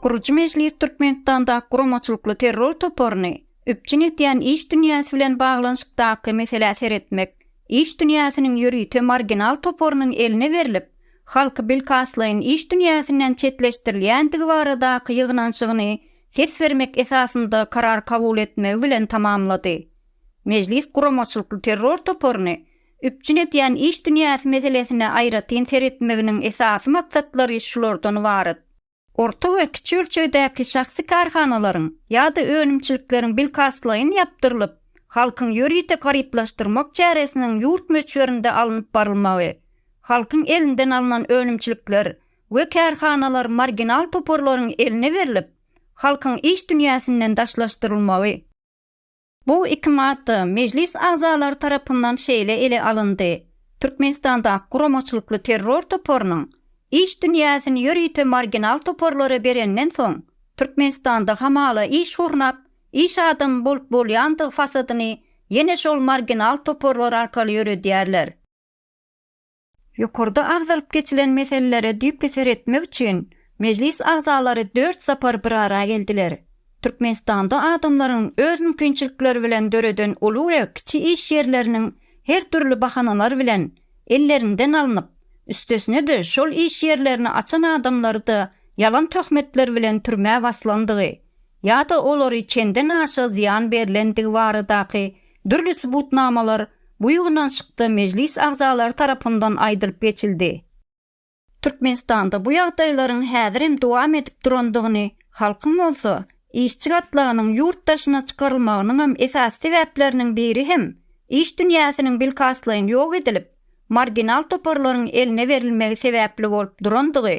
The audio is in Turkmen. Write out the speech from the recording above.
Gurujy mejlis Türkmenistandaky guramaçylykly terror toparyny üpjün edýän iş dünýäsi bilen baglanyşykdaky meselä seretmek, iş dünýäsiniň ýörite marginal toparynyň eline berlip, halky bilkastlaýyn iş dünýäsinden çetleşdirilýändigi baradaky ýygnanyşygyny ses bermek esasynda karar kabul etmegi bilen tamamlady. Mejlis guramaçylykly terror toparyny üpjün edýän iş dünýäsi meselesine aýratyn seretmeginiň esasy maksatlary şulardan ybarat. Orta we kiçi ölçegdäki şahsy kärhanalaryň ýa-da önümçilikleriň bilkastlaýyn ýapdyrylyp, halkyň ýörite garyplaşdyrmak çäresiniň ýurt möçberinde alnyp barylmagy, halkyň elinden alnan önümçilikler we kärhanalar marginal toparlaryň eline berlip, halkyň iş dünýäsinden daşlaşdyrylmagy. Bu iki madda Mejlis agzalary tarapyndan şeýle ele alyndy, Türkmenistandaky guramaçylykly terror toparynyň iş dünýäsini ýörite marginal toparlara berenden soň, Türkmenistanda hamala iş gurnap, iş adamy bolup bolýandygy fasadyny ýene şol marginal toparlar arkaly ýöredýärler. Ýokarda agzalyp geçilen meselelere düýpli seretmek üçin Mejlis agzalary dört sapar bir ara geldiler. Türkmenistanda adamlaryň öz mümkinçilikleri bilen döreden uly we kiçi iş ýerleriniň her dürli bahanalar bilen ellerinden alnyp, üstesine-de şol iş ýerlerini açan adamlary-da ýalan töhmetler bilen türmä baslandygy, ýa-da olary çenden aşa zyýan berlendigi baradaky dürli subutnamalar bu ýygnanyşykda mejlis agzalary tarapyndan aýdylyp geçildi. Türkmenistanda bu ýagdaýlaryň häzirem dowam edip durandygyny, halkyň bolsa, işçi gatlagynyň ýurt daşyna çykarylmagynyňam esasy sebäpleriniň biri hem iş dünýäsiniň bilkastlaýyn ýok edilip, marginal toparlaryň eline berilmegi sebäpli bolup durandygy